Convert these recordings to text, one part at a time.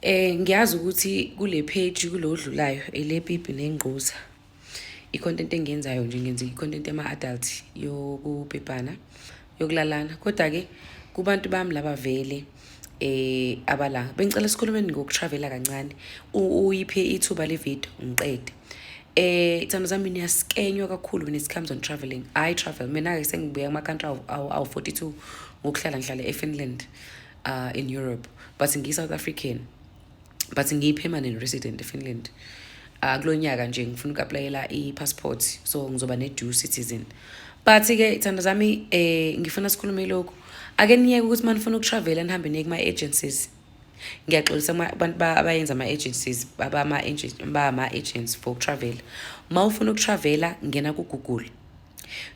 Eh ngiyazi ukuthi kule page kulo odlulayo elepipi nengquza i-content engiyenzayo nje ngenza i-content ema-adult yokubhebhana yokulalana kodwa-ke kubantu bami laba vele eh abala bengicela sikhulumeni ngokutravela kancane uyiphe ithuba le video ngiqede eh ithando zami niyasikenywa kakhulu when it comes on traveling i travel mina-ke sengibuya kuma-country awu-42 ngokuhlala ngihlala efinland uh, in europe but ngiyi-south african but ngiyi-permanent resident efinland uh, ah, kulo nyaka nje ngifuna uku-aplayela i-passport so ngizoba ne-due citizen but-ke thanda zami eh, ngifuna sikhulume lokhu ake niyeke ukuthi uma nifuna ukutravela nihambe niye kuma-agencies ngiyaxolisa abantu abayenza ama-agencies bama-agents for ukutravela uma ufuna ukutravela ngena kugoogle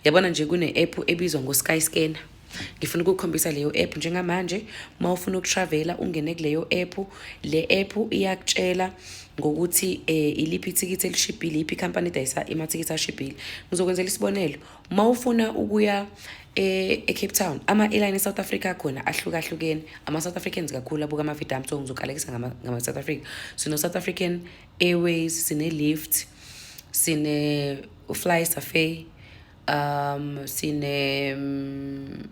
yabona nje kune-app ebizwa ngo-sky scanner ngifuna ukukhombisa leyo app njengamanje uma ufuna ukutravela ungene kuleyo app le app iyakutshela ngokuthi eh iliphi ithikithi elishibhile iphi company edayisa imathikithi ashibhile ngizokwenzela isibonelo uma ufuna ukuya eh, e-Cape Town ama airline eSouth Africa khona ahlukahlukene ama South Africans kakhulu abuka ama Vidam so ngizokalekisa ngama South Africa so no South African Airways, sine Lift, sine Fly Safari, um sine um,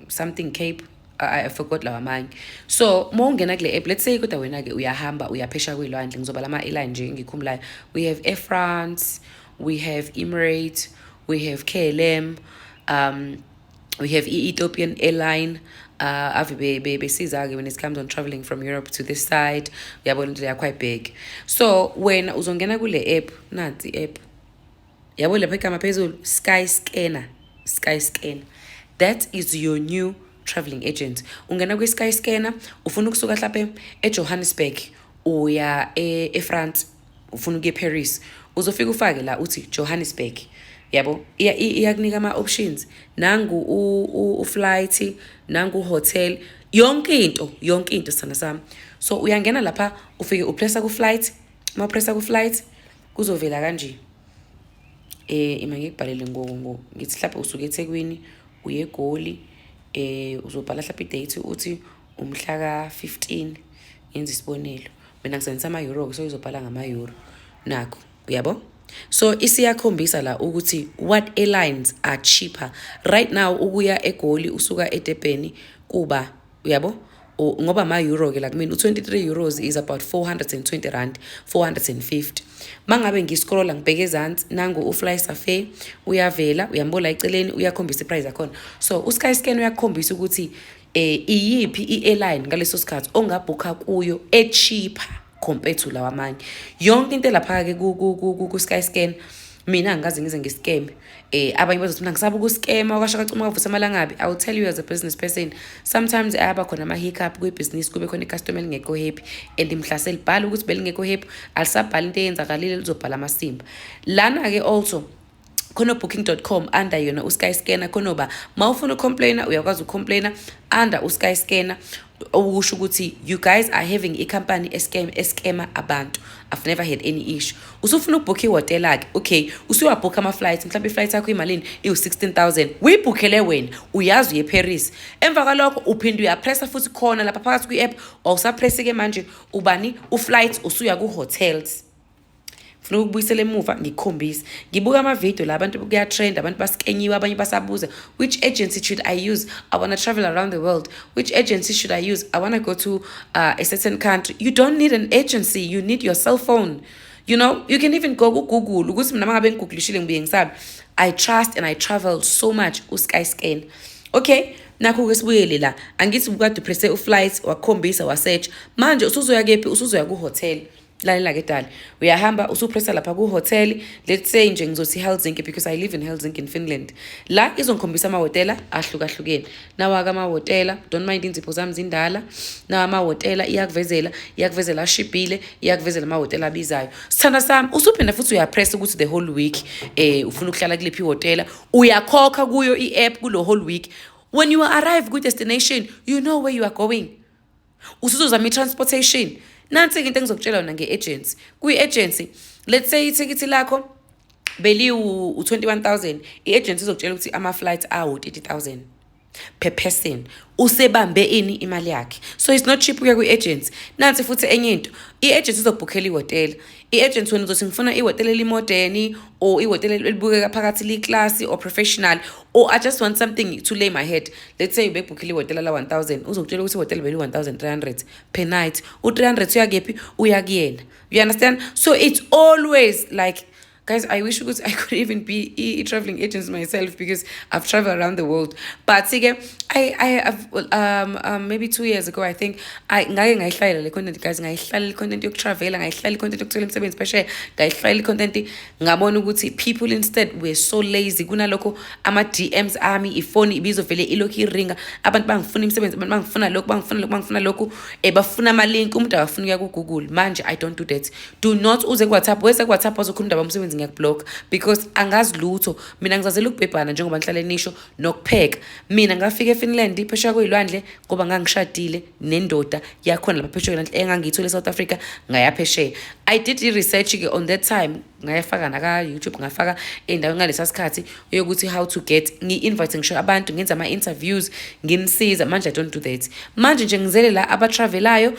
something Cape I, I forgot lawa amanye so uma ungena kule app let's say kodwa wena-ke uyahamba uyaphesha kuyilwandle ngizobala ama-airline nje engikhumulayo we have air france we have emirates we have klm um we have e-ethiopian airline uh, ave besiza-ke when it comes on traveling from europe to this side uyabona indlela yakho ayibheki so wena uzongena kule app nansi i-app yabo lapha igama phezulu sky scanner sky scanner that is your new traveling agent ungena kwi-sky scanner ufuna ukusuka hlaphe ejohannesburg uya e-france e ufuna ukuya eParis uzofika ufake la uthi Johannesburg yabo iyakunika ama options nangu u flight nangu hotel yonke into yonke into sana sami so uyangena lapha ufike upressa ku flight uma pressa ku flight kuzovela kanje eh ima ngikubhalele ngoku ngo ngithi mhlawumbe usuke eThekwini uye eGoli eh uzobhala mhlawumbe idate uthi Umhla ka-15 ngenza isibonelo mina ngisebenzisa ama-euro so izobhala ngama-euro nakho uyabo so isiyakhombisa la ukuthi what airlines are cheaper right now ukuya egoli usuka edebheni kuba uyabo ngoba ama-euro ke la kumina u-23 euros is about 420 rand 450 mangabe ngiscrolla ngibheke ezansi nangu ufly safe uyavela uyambola eceleni uyakhombisa iprice yakhona so usky scan uyakhombisa ukuthi eh iyiphi i-airline ngaleso sikhathi ongabhukha kuyo echeaper compared to lawa amanye yonke into elapha-ke ku-sky scan mina angikaze ngize ngisikeme eh abanye bazothi mina ngisaba ukusikema kwasho kacuma kwavutha amalangabi i will tell you as a business person sometimes ayaba khona ama-hiccup kwibhizinisi kube khona icustomer elingekho happy and mhlase libhala ukuthi belingekho happy alisabhala into eyenzakalile lizobhala amasimba lana-ke also khona booking.com under yona usky scanner khona uba ma ufuna ucomplaina uyakwazi ucomplaina under usky scanner okusho ukuthi you guys are having icompany escam escama abantu i've never had any issue usufuna ukubhukha ihhotela-ke okay usuyabhukha ama-flight mhlawumbe i-flight yakho imalini iwu-16000 uyibhukhele wena uyazi uye eparis emva kwalokho uphinde uyapressa futhi khona lapha phakathi kwi-app wawusapresse-ke manje ubani uflight usuya ku-hotels funa ukubuyisela emuva ngikukhombise ngibuka amavidiyo la abantu kuyatrend abantu basikenyiwe abanye basabuza which agency should i use i wanna travel around the world which agency should i use i wanna go to uh, a certain country you don't need an agency you need your cell phone you know you can even go kugoogle ukuthi mina mangabe ngigooglishile ngibuye ngisabe i trust and i travel so much usky scan okay nakho ke sibuyele la angithi ubukade upresse uflight wakhombisa wasearch manje usuzoya kephi usuzoya kuhotel lalela ke dali uyahamba usupressa lapha kuhotel let's say nje ngizothi helsinki because i live in helsinki in finland la izongikhombisa amahhotela ahlukahlukene nawaka amahhotela don't mind inzipho zami zindala nawa amahhotela iyakuvezela iyakuvezela ashibhile iyakuvezela amahhotela abizayo sithanda sami usuphinde futhi uyapressa ukuthi the whole week um ufuna ukuhlala kuliphi ihhotela uyakhokha kuyo i-app kulo whole week when you arrive kwi-destination you know where you are going usuzozama i-transportation nansi-ke into engizokutshela yona nge-agency kwi-agency let's say ithikithi lakho beliwu-21 000 i-agency izokutshela ukuthi ama-flight awu-30 000 per person usebambe ini imali yakhe so it's not cheap ukuya kwi-agency nansi futhi enye into i-agency izobhukhela ihhotela i-agent wena uzothi ngifuna ihhotela elimodeni or ihhotela elibukeka phakathi liyiklasi or professional or i just want something to lay my head let's say ubebhukhile ihhotela la-one thousand uzokutshela ukuthi ihhotela beli-one thousand three hundred per night u-three hundred uyakephi uya kuyena you understand so it's always like guys i wish ukuthi i could even be a traveling agent myself because i've traveled around the world but-ke I, I have um, um, maybe two years ago I think I ngake ngayihlalela le content guys ngayihlalela i content yokutravela ngayihlalela i content yokuthola imisebenzi phesheya ngayihlalela i content ngabona ukuthi people instead were so lazy kunalokho ama DMs ami ifoni ibizovele ilokhu iringa abantu bangifuna imisebenzi abantu bangifuna lokhu bangifuna lokhu bangifuna lokhu eh bafuna ama link umuntu akafuna ukuya ku Google manje I don't do that do not uze ku WhatsApp wese ku WhatsApp ozokhuluma indaba umsebenzi ngiyakublock because angazi lutho mina ngizazela ukubhebhana njengoba ngihlale nisho nokupheka mina ngafika efinland phesheya kuyilwandle ngoba ngangishadile nendoda yakhona lapha phesheya kuyilwandle engangiyithole esouth africa ngayaphesheya i did i-research-ke on that time ngayafaka naka-youtube ngafaka endaweni ngalesa sikhathi yokuthi how to get ngi-invite ngisho abantu ngenza ama-interviews nginisiza manje i don't do that manje nje ngizele la abatravelayo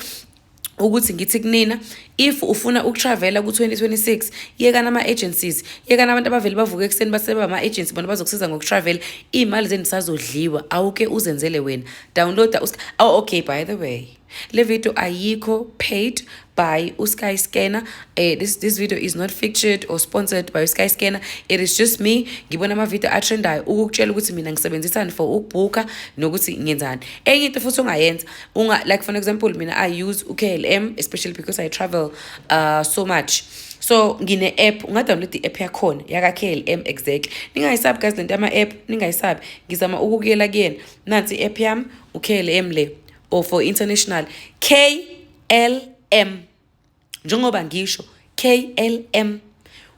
ukuthi ngithi kunina if ufuna ukutravela ku-2026 yekana ama-agencies yekana abantu abavele bavuke ekuseni baseba ama-agency bona bazokusiza ngokutravela iy'mali zenu sazodliwa awuke uzenzele wena downloada oh, okay by the way le video ayikho paid by usky scanner uh, this, this video is not featured or sponsored by usky scanner it is just me ngibona amavideo atrendayo ukukutshela ukuthi mina ngisebenzisani for ukubhukha nokuthi ngenzani enye into futhi ongayenza unga like for example mina i use uklm especially because i travel uh, so much so ngine-app ungadownload i-app yakhona yaka-klm exactly ningayisabi guys lento ama-app ningayisabi ngizama ukukuyela kuyena nansi i-app yami uklm le or for international klm njengoba ngisho KLM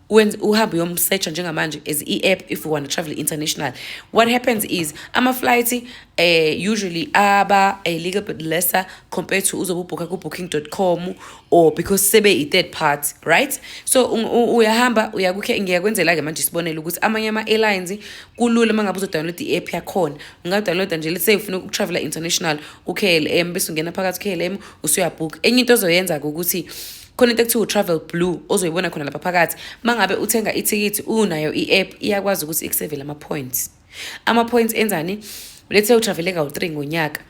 when uhambe uyomsearcha njengamanje as i-app if you want to travel international what happens is ama-flight uh, eh, usually aba a little bit lesser compared to uzobubhukha ku-booking com or because sebe i-third party right so uyahamba ngiyakwenzela-ke manje sibonele ukuthi amanye ama-airlines kulula uma ngabe uzodownload i-app yakhona ungadownloada nje let's say ufuna ukutravela international u-k l m bese ungena phakathi u-k l m usuyabhukha enye into ozoyenza-ke ukuthi khona into ekuthiwa u-travel blue ozoyibona khona lapha phakathi uma ngabe uthenga ithikithi unayo i-app iyakwazi ukuthi ikusevele ama-points ama-points enzani lethe utravele kawu-three ngonyaka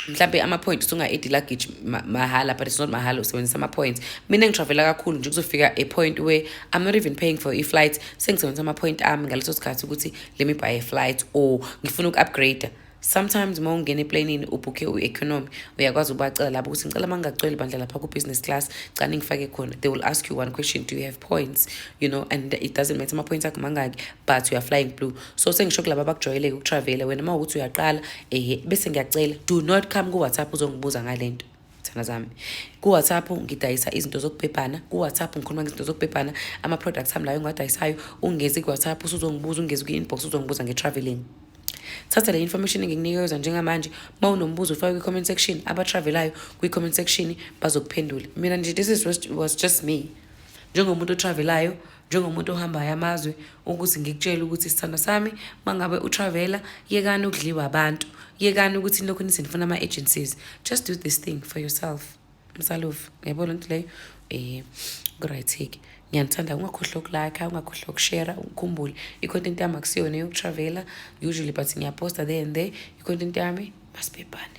mhlambe ama-point usunga-edi luggage mahhala but it's not mahhala usebenzisa ama-points mina ngitravela kakhulu nje kuzofika a point where i'm not even paying for i-flight sengisebenzisa ama-point ami ngaleso sikhathi ukuthi let me buy a flight or ngifuna uku-upgrade sometimes uma ungena eplanini ubhukhe u-economy uyakwazi ubacela labo ukuthi ngicela uma ngingacweli bandla lapha ku-business class cani ngifake khona they will ask you one question do you have points you know and it doesn't matter ama-points akho mangaki but you are flying blue so sengisho kulaba abakujwayeleke ukutravela wena uma ukuthi uyaqala ehe bese ngiyacela do not come ku-whatsapp uzongibuza ngale nto Thana zami. Ku-WhatsApp ngidayisa izinto zokubhebhana, ku-WhatsApp ngikhuluma ngezinto zokubhebhana, ama-products ami layo engiwadayisayo, ungezi ku-WhatsApp usuzongibuza, ungezi kwi-inbox uzongibuza nge-travelling. Thatha le information engikunikeza njengamanje, uma unombuzo ufake kwi-comment section, abatravelayo kwi-comment section bazokuphendula. Mina nje this is was just me. Njengomuntu otravelayo, njengomuntu ohambayo amazwe ukuthi ngikutshele ukuthi sithando sami mangabe utravela yekani ukudliwa abantu yekani ukuthi lokhu nithi nifuna ama-agencies just do this thing for yourself msalovu ngiyabo loo nto leyo um kuright-ke ngiyanithanda ungakhohlwa ukulakha ungakhohlwa ukushera ukhumbule i-content yami akusiyona yokutravela usually but ngiyaposta there and there i-content yami masibhebhane